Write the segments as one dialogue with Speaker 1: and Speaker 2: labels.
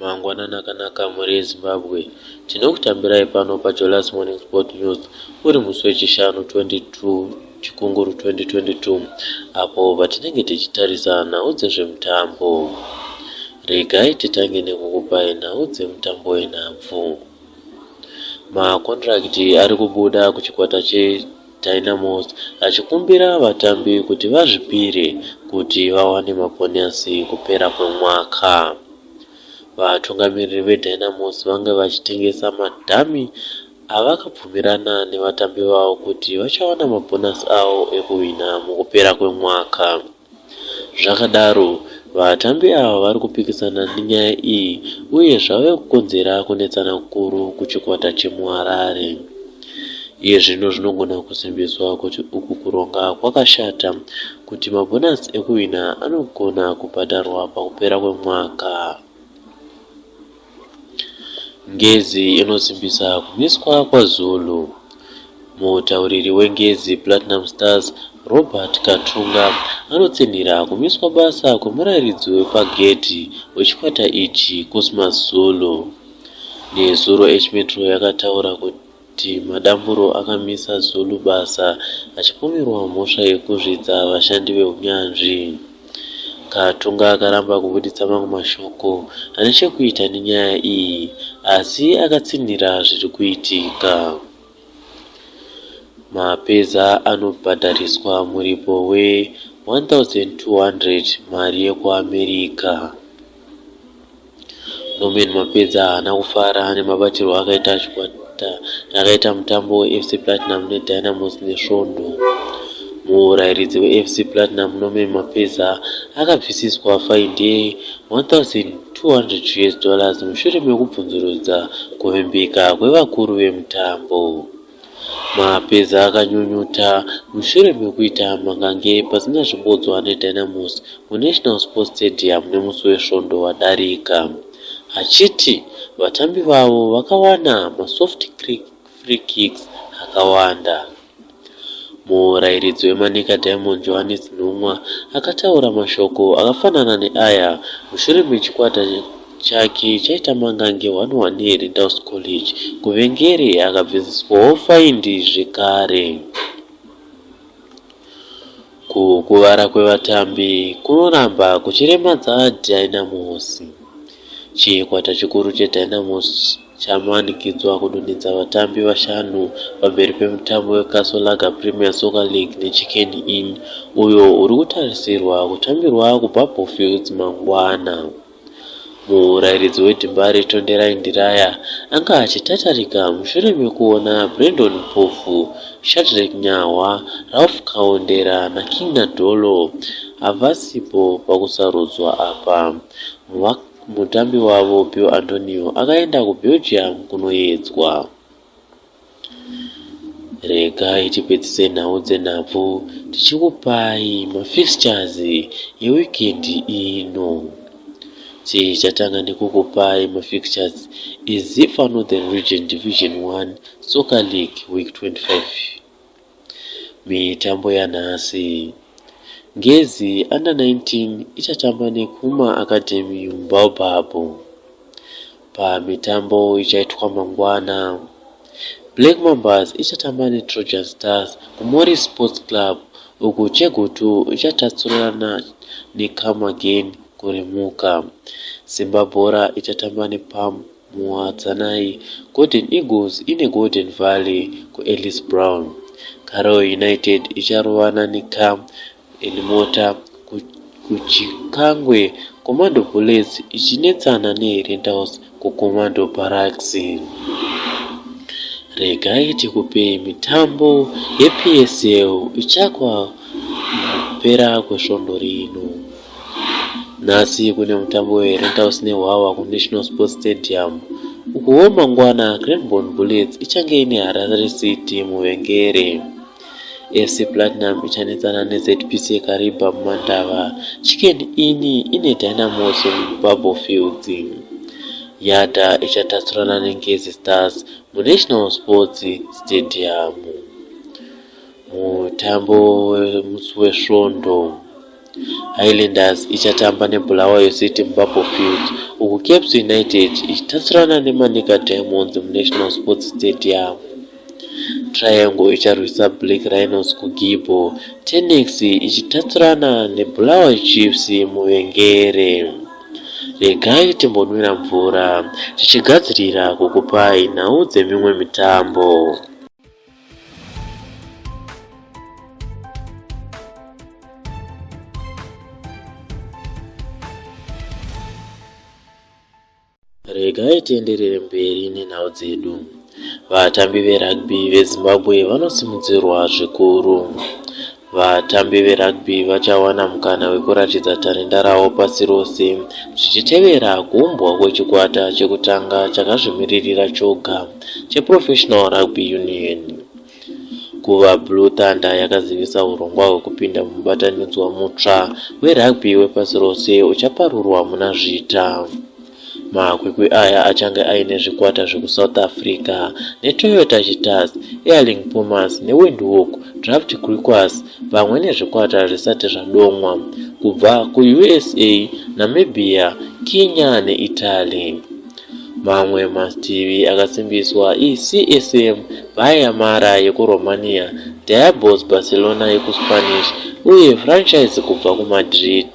Speaker 1: Mangwanani akanaka mhuri yeZimbabwe. Tinokutambirai pano paJolas Morning Sport News uri musi weChishanu 22 Chikunguru 2022 apo patinenge tichitarisa nhau dzezvemutambo. Regai titange nekukupai nhau dzemutambo wenhabvu. Makondirakiti ari kubuda kuchikwata che Dynamos achikumbira vatambi kuti vazvipire kuti vawane mabhonasi kupera kwemwaka. Vatungamiriri veDynamos vange vachitengesa madhami avakabvumirana nevatambi vavo kuti vachawana mabhonasi avo ekuhwina mukupera kwemwaka. Zvakadaro, vatambi ava vari kupikisana nenyaya iyi uye zvave kukonzera kunetsana kukuru kuchikwata chemuHarare. Iye zvino zvinogona kusimbiswa kuti uku kuronga kwakashata kuti mabhonasi ekuhwina anogona kubhadharwa pakupera kwemwaka. Ngezi inosimbisa kumiswa kwaZulu. Mutauriri weNgezi Platinum Stars, Robert Katunga, anotsinhira kumiswa basa kwemurairidzi wepagedhi wechikwata ichi, Cosmas Zulu. Nezuro H-Metro yakataura kuti kuti Madamburo akamisa Zulu basa achipomerwa mhosva yekuzvidza vashandi vehunyanzvi. Katunga akaramba kubuditsa mamwe mashoko ane chekuita nenyaya iyi asi akatsinhira zviri kuitika. Mapeza anobhadhariswa muripo we 1200 mari yekuAmerica. Norman Mapedza haana kufara nemabatirwo akaita chikwata chakaita mutambo weFC Platinum neDynamos nesvondo. Murairidzi weFC Platinum Norman Mapedza akabvisiswa faindi ye 1200 US dollars mushure mekubvunzurudza kuvimbika kwevakuru vemutambo. Mapeza akanyunyuta mushure mekuita mangange pasina zvimbodzwa neDynamos muNational Sports Stadium nemusi weSvondo wadarika achiti vatambi vavo vakawana masoft free kicks akawanda. Murairidzi weManica Diamond Johannes Nhumwa akataura mashoko akafanana neaya mushure mechikwata Chake chaita mangange one one here Dow's College kuvengere akabvisiswawo faindi zvekare. Kukuvara kwevatambi kunoramba kuchiremadza Dynamos. Chikwata chikuru cheDynamos chamanikidzwa kudonhedza vatambi vashanu pamberi pemutambo weCastle Lager Premier Soccer League neChicken Inn uyo uri kutarisirwa kutambirwa kuBabourfields mangwana. Murairidzi weDimbare, Tonderai Ndiraya, anga achitatarika mushure mekuona Brendon Mpofu, Shadreck Nyahwa, Ralph Kaondera naKing Nadolo havasipo pakusarudzwa apa. Mutambi wavo, Bill Antonio, akaenda kuBelgium kunoyedzwa. Regai tipedzise nhau dzenhabvu tichikupai mafixtures eweekend ino. Tichatanga nekukupai mafixtures eZifa Northern Region Division 1 Soccer League Week 25. Mitambo yanhasi. Ngezi Under 19 ichatamba neKuma Academy muBaobab. Pamitambo ichaitwa mangwana, Black Mambas ichatamba neTrojan Stars kuMorris Sports Club uku Chegutu ichatatsurana neCome Again kuRimuka. Simba Bhora ichatamba nePAM Muwadzanai Golden Eagles ine Golden Valley kuEllis Brown. Karawe United icharovana neCam Elimota kuChikangwe, Commando Bullets ichinetsana neHerentals kuCommando Barracks. Regai tikupei mitambo yePSL ichakwa kupera kwesvondo rino. Nhasi kune mutambo weRentals neHwawa kuNational Sports Stadium ukuwo mangwana Cranborne Bullets ichange ine Harare City muvengere. FC Platinum ichanetsana neZPC Kariba mumandava. Chicken Inn ine Dynamos muBubble Fields. Yada ichatatsurana neNgezi Stars muNational Sports Stadium. Mutambo wemusi wesvondo Highlanders ichatamba neBulawayo City muBapo Field uku Caps United ichitatsurana neManica Diamonds muNational Sports Stadium. Triangle icharwisa Black Rhinos kuGibbo, Tenex ichitatsurana neBulawayo Chiefs muVengere. Regai timbonwira mvura tichigadzirira kukupai nhau dzemimwe mitambo. regai tienderere mberi nenhau dzedu vatambi verugby vezimbabwe vanosimudzirwa zvikuru Vatambi verugby vachawana mukana wekuratidza tarenda ravo pasi rose zvichitevera kuumbwa kwechikwata chekutanga chakazvimiririra choga cheProfessional Rugby Union. Guva Blue Thunder yakazivisa hurongwa hwekupinda mumubatanidzwa mutsva werugby wepasi rose uchaparurwa muna Zvita. Makwikwi aya achange aine zvikwata zvekuSouth Africa neToyota Cheetahs, Erling Pumas neWindhoek Draft Griquas pamwe nezvikwata zvisati zvadomwa kubva kuUSA, Namibia, Kenya neItaly. Mamwe mativi akasimbiswa iCSM Bayer Mara yekuRomania, Diabos Barcelona yekuSpanish uye franchise kubva kuMadrid.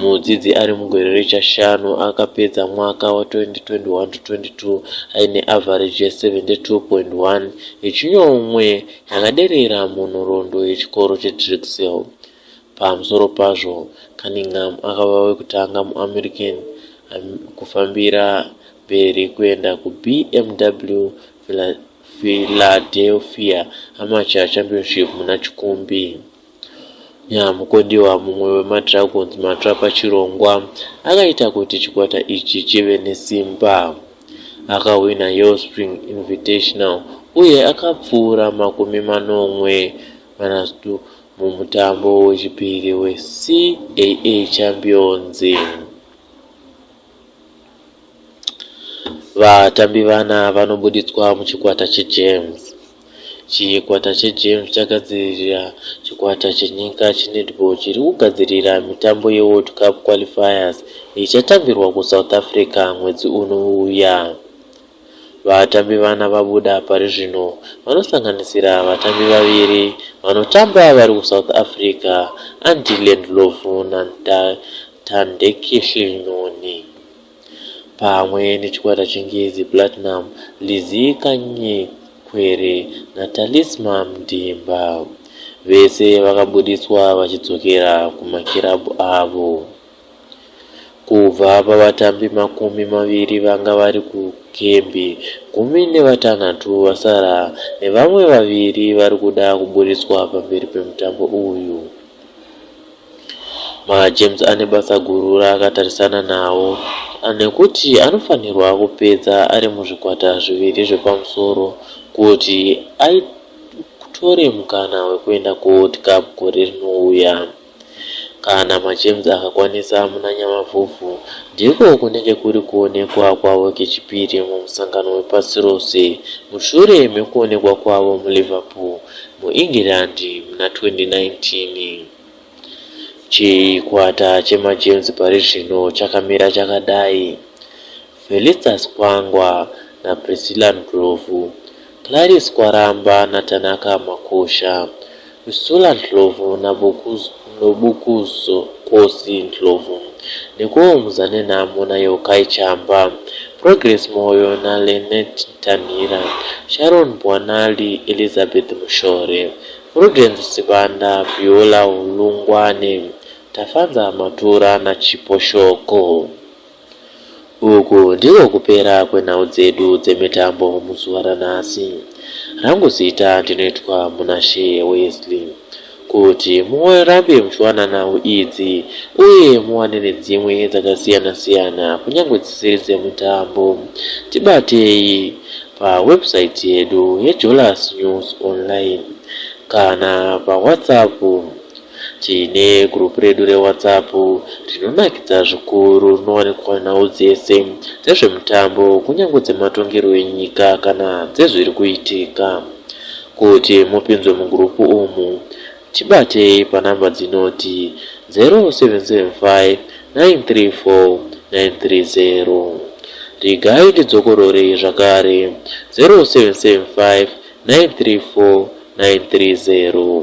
Speaker 1: Mudzidzi ari mugore rechashanu akapedza mwaka wa-2021-22 aine avhareji ye-72.1 yechinomwe yakaderera munhoroondo yechikoro cheDrexel. Pamusoro pazvo, Cunningham akava wekutanga muAmerican kufambira mberi kuenda kuBMW Philadelphia Amateur Championship muna Chikumbi. Nyamukodiwa, mumwe wemaDragons matsva pachirongwa, akaita kuti chikwata ichi chive nesimba. Akahwina Yeo Spring Invitational uye akapfuura makumi manomwe manatatu mumutambo wechipiri weCAA Champions. Vatambi vana vanobuditswa muchikwata cheGems. Chikwata cheGems chagadzirira chikwata chenyika chenetball chiri kugadzirira mitambo yeWorld Cup Qualifiers ichatambirwa kuSouth Africa mwedzi unouya. Vatambi vana vabuda pari zvino vanosanganisira vatambi vaviri vanotamba vari kuSouth Africa, Andile Ndlovu naNthandekehli Nyoni, pamwe nechikwata cheNgezi Platinum, Lizzy Kanyekwere naTalisma Mdimba. Vese vakabuditswa vachidzokera kumakirabhu avo. Kubva pavatambi makumi maviri vanga vari kukembi, gumi nevatanhatu vasara nevamwe vaviri vari kuda kuburitswa pamberi pemutambo uyu. MaGems ane basa guru raakatarisana nawo nekuti anofanirwa kupedza ari muzvikwata zviviri zvepamusoro kuti atore mukana wekuenda kuWorld Cup gore rinouya. Kana maGems akakwanisa muna Nyamavhuvhu, ndiko kunenge kuri kuonekwa kwavo kechipiri mumusangano wepasi rose mushure mekuonekwa kwavo muLiverpool, muEngland muna 2019. Chikwata chemaGems parizvino chakamira chakadai. Felistas Kwangwa naPriscilla Ndlovu, Clarice Kwaramba naTanaka Makosha, Priscilla Ndlovu naBokuzokosi Ndlovu, Nicole Muzanenhamo naYokai Chamba, Progress Moyo naLynette Ntanhira, Sharon Mbwanali, Elizabeth Mushore, Prudence Sibanda, Beulah Hulungwane, Tafanza Matura naChipo Shoko. Uku ndiko kupera kwenhau dzedu dzemitambo muzuva ranhasi. Rangu zita ndinoitwa Munashe Wesley. Kuti murambe muchiwana nhau idzi uye muwane nedzimwe dzakasiyana siyana kunyange dzisiri dzemutambo, tibatei pawebsite yedu yeJolas News Online kana paWhatsApp Tine group redu reWhatsApp rinonakidza zvikuru rinowanikwa nhau dzese dzezvemutambo kunyange dzematongerwo enyika kana dzezviri kuitika. Kuti mupinzwe mugroup umu tibatei panumber dzinoti 0775934930. Regai tidzokororei zvakare 0775934930.